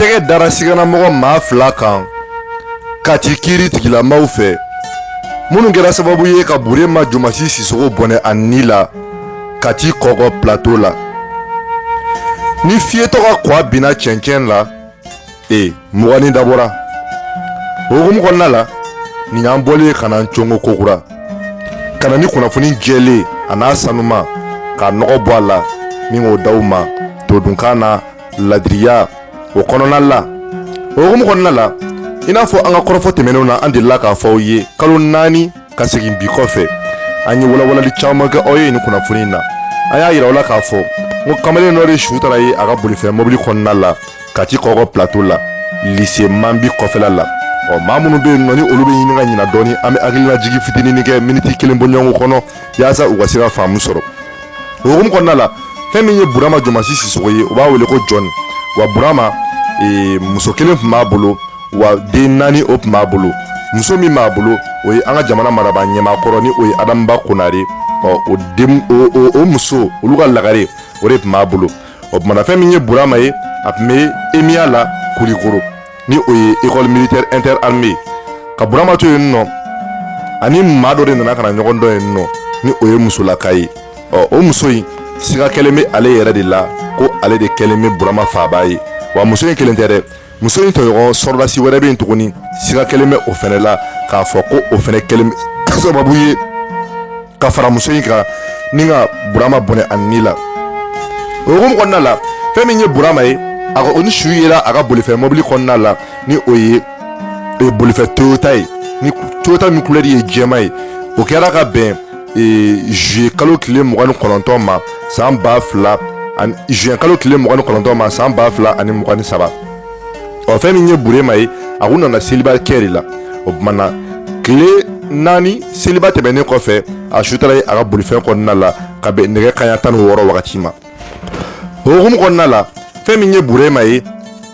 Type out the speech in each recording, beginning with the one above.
tɛgɛ dara siganamɔgɔ maa fila kan kati kiri tigilamaw fɛ minnu kɛra sababu ye ka burema jomasi sisogo bɔnɛ a ni la kati kɔkɔ plateau la ni fiyetɔ ka kwa binna cɛncɛn la e muganni dabɔra o hukumu kɔnɔna la nin y'an bɔlen ye ka na n congo ko kura ka na ni kunnafoni jɛlen a n'a sanuma k'a nɔgɔ bɔ a la min k'o daw ma todunkan na ladiriya o kɔnɔna la o hukumu kɔnɔna la i n'a fɔ an ka kɔrɔfɔ tɛmɛnenw na an delila k'a fɔ aw ye kalo naani ka segin bi kɔfɛ an ye walawalali caman kɛ aw ye nin kunnafoni na an y'a yira aw la k'a fɔ n ko kamalen dɔ de su taara ye a ka bolifɛn mɔbili kɔnɔna la kati kɔkɔ plateau la lise manbi kɔfɛla la ɔ maa minnu bɛ yen nɔ ni olu bɛ ɲini ka ɲina dɔɔni an bɛ hakilina jigi fitinin kɛ miniti kelen bɔɲɔgɔnko kɔnɔ yaasa u ka se ka faamu sɔrɔ o hukumu kɔnɔna la fɛn min ye burama jɔmasi sisogo ye u b'a wele ko jɔni wa burama e, muso kelen tun b'a bolo wa den naani o tun b'a bolo muso min b'a bolo o ye an ka jamana maraba ɲɛmaa kɔrɔ ni o ye adama ba konare ɔ o den o o o muso olu ka lagare o de tun b'a bolo o tumana fɛn min ye burama ye a tun bɛ emiya la kulikoro ni o ye école militaire interarmes ka burama to yen nɔ ani maa dɔ de nana ka na ɲɔgɔn dɔn yen nɔ ni o ye musolaka ye ɔ o muso in siga kɛlen bɛ ale yɛrɛ de la ko ale de kɛlen bɛ burama faaba ye wa muso in kelen tɛ dɛ muso in tɔɲɔgɔn sɔrɔdasi wɛrɛ bɛ yen tuguni siga kɛlen bɛ o fɛnɛ la k'a fɔ ko o fɛnɛ kɛlen bɛ sababu ye ka fara muso in kan ni ka burama bɔnɛ a ni la o hukumu kɔnɔna la fɛn min ye burama ye a kɔni su yera a ka bolifɛn mɔbili kɔnɔna la ni o ye e, bolifɛn toyota ye ni toyota min kulɛri ye jɛma ye o kɛra ka bɛn e, juye kalo tile mugan ni kɔnɔntɔn ma san ba fila ani juye kalo tile mugan ni kɔnɔntɔn ma san ba fila ani mugan ni saba ɔ fɛn min ye burema ye a kun nana seliba kɛ de la o tuma na tile naani seliba tɛmɛnen kɔfɛ a su taara ye a ka bolifɛn kɔnɔna la ka bɛn nɛgɛ kaɲa tan ni wɔɔrɔ wagati ma o hukumu kɔnɔna la fɛn min ye burema ye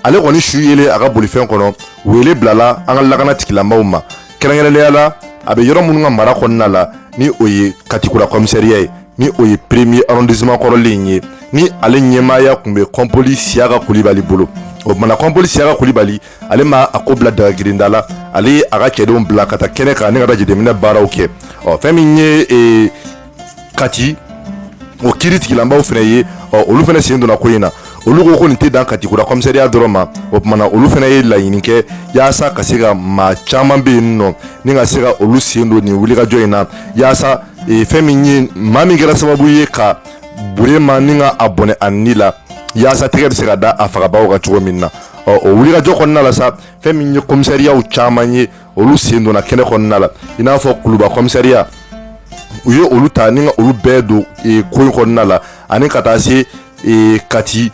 ale kɔni su yelen a ka bolifɛn kɔnɔ wele bilala an ka lakana tigilamaw ma kɛrɛnkɛrɛnnenya la a bɛ yɔrɔ minnu ka mara kɔnɔna la ni o ye kati kura komisariya ye ni o ye premier arrondissement kɔrɔlen in ye ni ale ɲɛmaaya tun bɛ kɔnpoli siyaka kulibali bolo o tumana kɔnpoli siyaka kulibali ale ma a ko bila dagagirinda la ale ye a ka cɛdenw bila ka taa kɛnɛ kan ne ka taa jateminɛ baaraw kɛ ɔ fɛn min ye ee kati o kiri tigilamaaw fana ye ɔ olu fana sen donna ko in na olu ko ko nin tɛ dan katikura kɔmisariya dɔrɔn ma o tuma na olu fana ye laɲini kɛ yaasa ka se ka maa caman bɛ yen nɔ ni ka se ka olu sen don nin wulikajɔ in na yaasa e, fɛn min ye maa min kɛra sababu ye ka burema ni ka a bɔnɛ a ni la yaasa tɛgɛ bɛ se ka da a fagabaaw kan cogo min na ɔ o wulikajɔ kɔnɔna la sa fɛn min ye kɔmisariyaw caman ye olu sen donna kɛnɛ kɔnɔna la i n'a fɔ kuluba kɔmisariya u ye olu ta ni ka olu bɛɛ don e, ko in kɔnɔna la ani ka taa se e, kati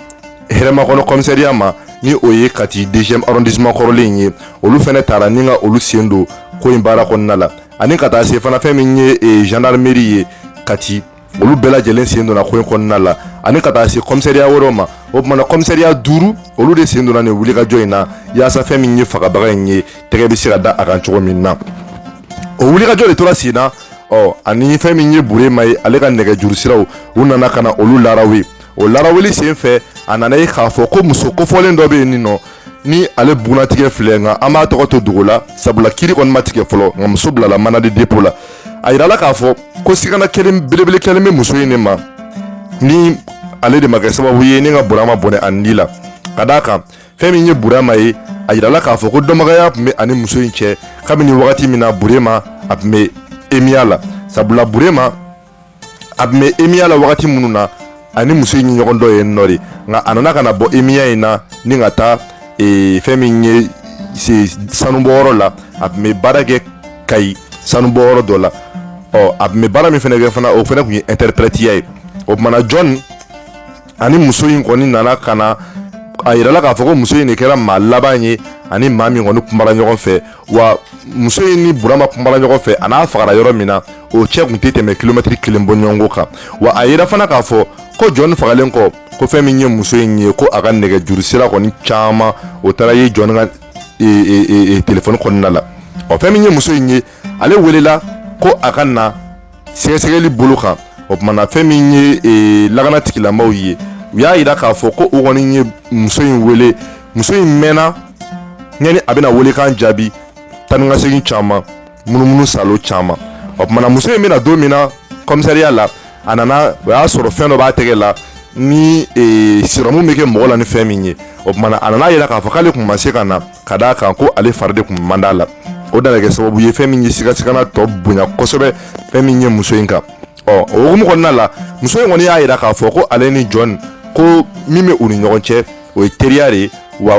hɛrɛmakɔnɔ kɔmisariya ma ni o ye kati deuxième arrondissement kɔrɔlen in ye olu fɛnɛ taara ni ka olu sen don ko in baara kɔnɔna la ani ka taa se fana fɛn min ye e, gendarmerie ye kati olu bɛɛ lajɛlen sen donna ko in kɔnɔna la ani ka taa se kɔmisariya wɛrɛw ma o tumana kɔmisariya duuru olu de sen donna nin wulikajɔ in na yaasa fɛn min ye fagabaga in ye tɛgɛ bɛ se ka da a kan cogo min na o wulikajɔ de tora sen na ɔ ani fɛn min ye burema ye ale ka nɛgɛjuru siraw u nana ka na olu larawe o laraweli sen fɛ a nana ye k'a fɔ ko muso kofɔlen dɔ bɛ yen nin nɔ ni ale bugunnatigɛ filɛ nka an b'a tɔgɔ to dogo la sabula kiri kɔni ma tigɛ fɔlɔ nka muso bilala mandat de dépôt la a yirala k'a fɔ ko sigana belebele kɛlen bɛ muso in de ma ni ale de ma kɛ sababu ye ni ka burama bɔnɛ a ni la ka d'a kan fɛn min ye burama ye a yirala k'a fɔ ko dɔnbagaya tun bɛ a ni muso in cɛ kabini wagati min na burema a tun bɛ emiya la sabula burema a tun bɛ emiya la wagati minnu na a ni muso in ye ɲɔgɔn dɔn yen nɔ de nka a nana ka na bɔ emiya in na ni ka taa e, fɛn min ye sanubɔyɔrɔ la a tun bɛ baara kɛ kayi sanubɔyɔrɔ dɔ la ɔ a tun bɛ baara min fana kɛ fana o fana tun ye ɛnterepɛrɛtiya ye o tumana jɔn a ni muso in kɔni nana ka na a yirala k'a fɔ ko muso in de kɛra maa laban ye a ni maa min kɔni kumara ɲɔgɔn fɛ wa muso in ni burama kumara ɲɔgɔn fɛ a n'a fagara yɔrɔ min na o cɛ tun tɛ tɛmɛ kilomɛtiri kelen bɔɲɔgɔnko kan wa a yira fana k'a fɔ ko jɔn fagalen kɔ ko fɛn min ye muso in ye ko a ka nɛgɛjuru sira kɔni caman o taara ye jɔn ka e, e, e, telefɔni kɔnɔna la ɔ fɛn min ye muso in ye ale welela ko a ka na sɛgɛsɛgɛli bolo kan o tumana fɛn min ye e, lakana tigilamɔgɔw ye u y'a yira k'a fɔ ko u kɔni ye muso in wele muso in mɛnna yanni a bɛna welekan jaabi taa ni ka segin caman munumunu saalo caman o tumana muso in bɛ na don min na kɔmisariya la a nana o y'a sɔrɔ fɛn dɔ b'a tɛgɛ la ni e, sirɔmu bɛ kɛ mɔgɔ la ni fɛn min ye o tumana a nana yira k'a fɔ k'ale tun ma se ka na ka d'a kan ko ale fari de tun man di a la o de nana kɛ sababu ye fɛn min ye sigasigana tɔ bonya kosɛbɛ fɛn min ye muso in kan ɔ o hukumu kɔnɔna la muso in kɔni y'a yira k'a fɔ ko ale ni jɔn ko min bɛ u ni ɲɔgɔn cɛ o ye teriya de ye wa